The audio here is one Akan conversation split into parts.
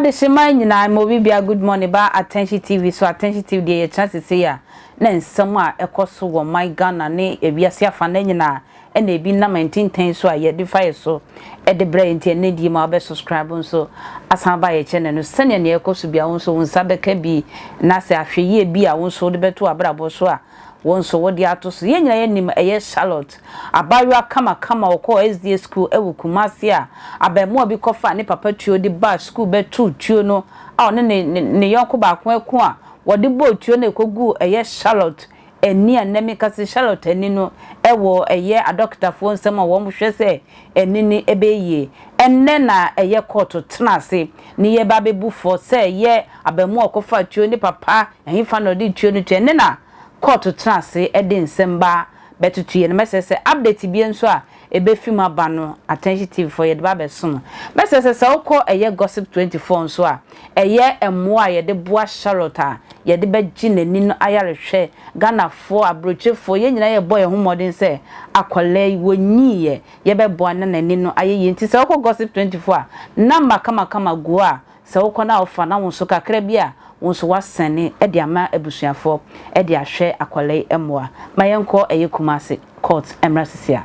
Adehyemma nyinaa mma obi biara good morning ba Attention TV so Attention TV deɛ yɛkyena sesei a na nsɛm a ɛkɔ so wɔ ɔman Ghana ne wiase afanna nyinaa ɛna ebi nam ntintɛn so a yɛde fa yɛ so de brɛ yɛ nti ɛnɛ die ma wobɛ subscribe nso asan aba yɛ kyɛnɛ no sɛnea nea ɛkɔ so bia wo nso wo nsa bɛka bi na sɛ ahwɛ yie bi a wo nso wode bɛto abrabɔ so a wo nso wode ato so yɛn nyinaa yɛnim ɛyɛ Charlotte abaayewa kama kama ɔkɔ SDA school ɛwɔ Kumasi a abɛɛmoa bi kɔfa ne papa tuo de baa school bɛto tuo no a ɔne ne ne yɔnko baako ɛko a wɔde bɔɔ tuo no ɛkɔguu ɛyɛ Charlotte Ɛnne a nnɛ meka sɛ Charlotte anni no wɔ ɛyɛ adɔkotafoɔ nsam a wɔhwɛ sɛ ɛnne no bɛyɛ yie. Ɛnnɛ na ɛyɛ kɔɔto tena ase ne yɛreba abɛbu fɔ sɛ ɛyɛ abaamua a ɔkɔfaa tuo ne papa ɛhefa na ɔde tuo no tuo. Ɛnnɛ na kɔɔto tena ase de nsɛmma bɛtoto yɛn anim. Ɛsɛ sɛ update biara nso a ebefi mu aba no Attention TV fɔ yɛde ba abɛso no. Mɛsrɛ sɛ sɛ wokɔ ɛyɛ Gossip twenty four nso a, ɛyɛ mmoa a yɛde boa Charlotte a yɛde bɛgye n'ani no ayarehwɛ. Ghanafoɔ, abrokyefoɔ, yɛn nyinaa yɛbɔ yɛn ho mmɔden sɛ akwadaa yi, wɔnyiiɛ, yɛbɛboa no na n'ani no ayɛ yie. Nti sɛ wokɔ Gossip twenty four a, number kamakama gu hɔ a Sɛ wokɔ na wofa na wo nso kakra bi a wo nso woasɛne de ama abusuafoɔ de ahwɛ akwadaa yi mmoa ma yɛnkɔ ɛyɛ Kumasi court mmra sisi a.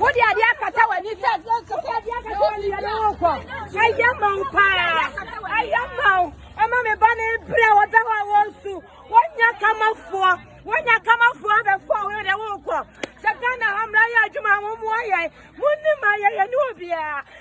wode adeɛ akata w'ani sɛ ɛyɛ ma wo paa ɛyɛ ma wo ɛma me ba ne berɛ wɔda hɔ a wɔnsu wɔnya kamafoɔ wɔnya kamafoɔ abɛfoɔ wo dɛ wonkɔ sɛ ghana ha mmara yɛ adwuma wo mmoa yɛn monim ayɛyɛ ne obiaa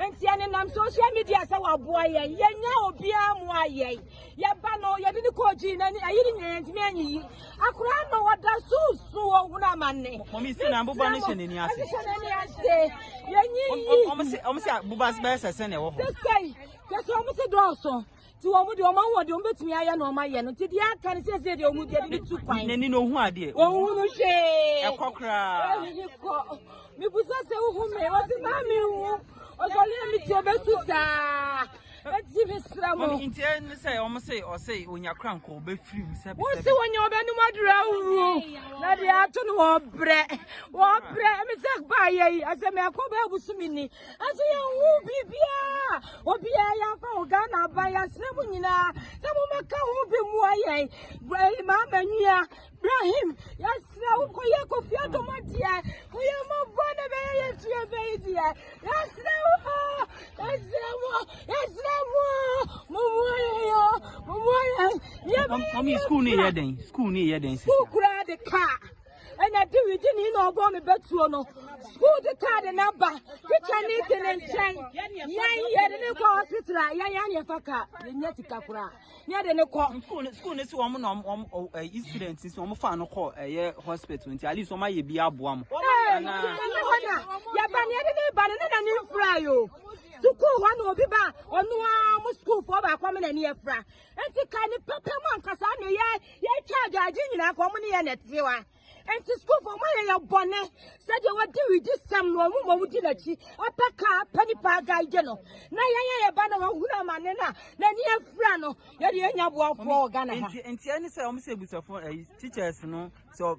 Nti ɛne nam social media sɛ waboa yɛn yɛnya obiara mu ayɛ yɛba no yɛde ne kɔɔ gyi na ayi ne nyinaa yɛntumi anyi yi akora no wɔda so su ɔhunu amane ɔmo si na boba no hyɛ n'ani ase hyɛ n'ani ase yɛnyi yi ɔmo si ɔmo si boba bɛyɛ sɛ sɛ na ɛwɔ hɔ sɛ sɛ yɛ sɛ ɔmo si dɔɔso. Ti wɔn deɛ wɔn ahoɔden wɔn bɛtumi ayɛ na wɔn ayɛ no nti deɛ aka no sɛsɛ deɛ wɔn deɛ de tu kwan. N'ani na ohun adeɛ. Wɔn hu no hwee. Ɛkɔ koraa. Ɛhini kɔ. Mibusa sɛ wohu me wɔsi maa mi hu. Ɔsɔre a mi ti obesu saa. Eti mi sira mo. Wɔn nti ɛne sɛ wɔn se ɔse onyakura nkɔ obefiri mu sɛbi sɛbi. Wɔn se wɔn nyɛ wɔn bɛnum aduru awuru. Na deɛ ato no wɔn brɛ wɔn brɛ ɛmi sɛ baa yɛ yi asɛ mɛ ɛkɔ bɛ ebusu mi ni. Ɛso yɛn ho biribiara obiara yɛn afa ho Ghana aba yɛn asrɛ mu nyinaa sɛ mo bɛka ho bi mu ayɛ ɛyi maa ma nua Ibrahim yɛn asrɛ wo kɔ yɛ kofi adoma deɛ kɔ yɛ mo bɔ na bɛyɛ yɛn tu yɛ bɛyi deɛ yɛn asrɛ wo yɛn asrɛ mo yɛn asrɛ mo mo mu ayɛ yɛ mo mu ayɛ yɛ bɛyɛ yɛ kura sukuu kura de kaa. ɛna diwidi ni na ɔbɔ me bɛtuo no sukuu de kaa de na ba tikya ne te ne nkyɛn yɛn yɛde ne kɔ hospital a yɛn yɛn yɛfa ka yɛnya sika koraa ne yɛde ne kɔ. sukuu ne si wɔn na wɔn ɛyi eh, student nti wɔn fa no kɔ ɛyɛ eh, hospital nti at least wɔn ayɛ bi aboa mo. ɛɛ ɛna yɛba ne yɛde ne ba ne ne na ne nfura yi o sukuu hɔ na obi ba ɔno ara mo sukuufoɔ baako mi na ne yɛfura Enti ka ne pɛpɛ mu ankasa na yɛ yɛtwa adwaagye nyinaa ka wɔn ne yɛ na ɛtewa. Enti sukuufo wɔn ayɛ yɛ bɔne sɛdeɛ wɔde widi sɛm no wɔn ma wɔdi n'akyi apɛ ka apɛ nipa agaagye no na yɛn a yɛba na wɔhunu amane no a n'ani afira no yɛde yɛnya boafoɔ wɔ Ghana ha. Nti nti ɛne sɛ wɔn sɛ abusafo ɛyi teachers no sɛ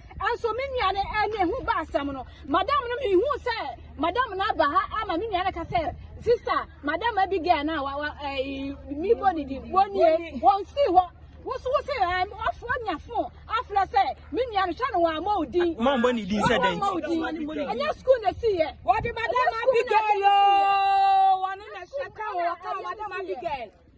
Nso me nua no ɛne ehu ba asɛm no madam no me hu sɛ madam no aba ha ama me nua no ka sɛ sister madam Abigail na wa wa ɛɛ mi bɔ ne di wɔn nie wɔn si hɔ woso wosi ɛɛ ɔfo ɔnya fo afra sɛ me nua no hwɛ no wɔn ama odin wɔn ama odin ɛnyɛ sukuu na esi yɛ wɔde madam Abigail yoo wɔn na hyɛ ka wɔ wɔka madam Abigail.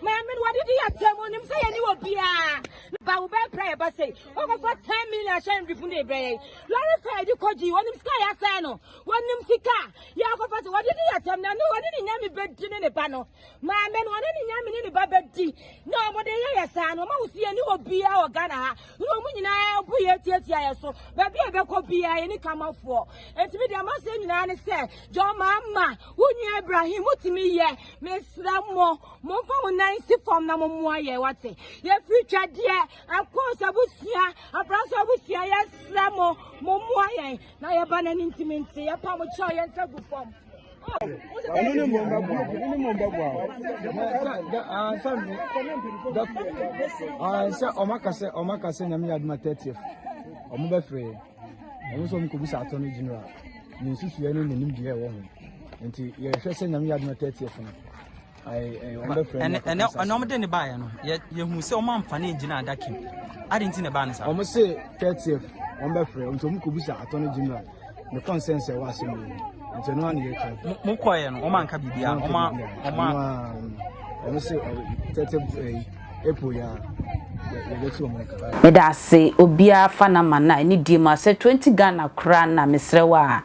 Maame no wɔde di atam onim sɛ yɛne wɔ biara. Ba wo bɛɛ pira yɛ ba sɛ wɔkɔfa ten million ahyɛ ndrifo na ebira yɛ. Lɔre fɛ yɛde kɔ gyi wɔnim sika yɛ asɛe no wɔnim sika yɛ akɔfa sɛ wɔde di atam na ne wɔne ne nyame bɛdi ne ne ba no. Maame no wɔne ne nyame ne ne ba bɛdi na wɔde yɛ yɛ saa no wɔn ahosuo yɛne wɔ biara wɔ Ghana ha. na wɔn nyinaa bo yɛ tiatia yɛ so baabi a yɛbɛkɔ biara yɛ ne kamafoɔ eti mi deɛ maseɛ nyinaa ne sɛ jɔn maa ma wo nua ibrahim wotumi yɛ mesra mo mo nfa mo nan si fam na mo mmoa yɛ wate yɛfiri twadeɛ akɔs abusua abrasɛ abusua yɛsra mo mo mmoa yɛn na yɛba n'ani ntumi nti yɛpa mo kyɛw yɛn nsa gu fam. ɛno ne mmom bɛboa wo ɛno ne mmom bɛboa wo sɛ sɛ ɔmaka sɛ ɔmaka sɛ nyame yɛ adoma 30th ɔmo bɛfrɛ ɔmo sɛ ɔmkɔbisa atɔ no general ne nsusuɛ ne nanim deɛ ɛwɔ ho nti yɛhwɛ sɛ nyame yɛ adoma 30th no ɛnɛ ɔmo de ne baayɛ no yɛhu sɛ ɔmo amfa ne ngyina adaka mu adi nti na ɛbaa ne saa. ɔmo se thirtieth ɔmo bɛfrɛ nti ɔmo kɔ bisa attorney general ne consensus ɛwɔ asɛm mu nti ɛno ano yɛ twa. mo kɔɛ no ɔmo anka biribi a ɔmo ɔmo. ɔmo se thirtieth eh, april yɛ a meda ase obiara fa na ma na ne die mu asɛ 20 ghana koraa na mesrɛ wa a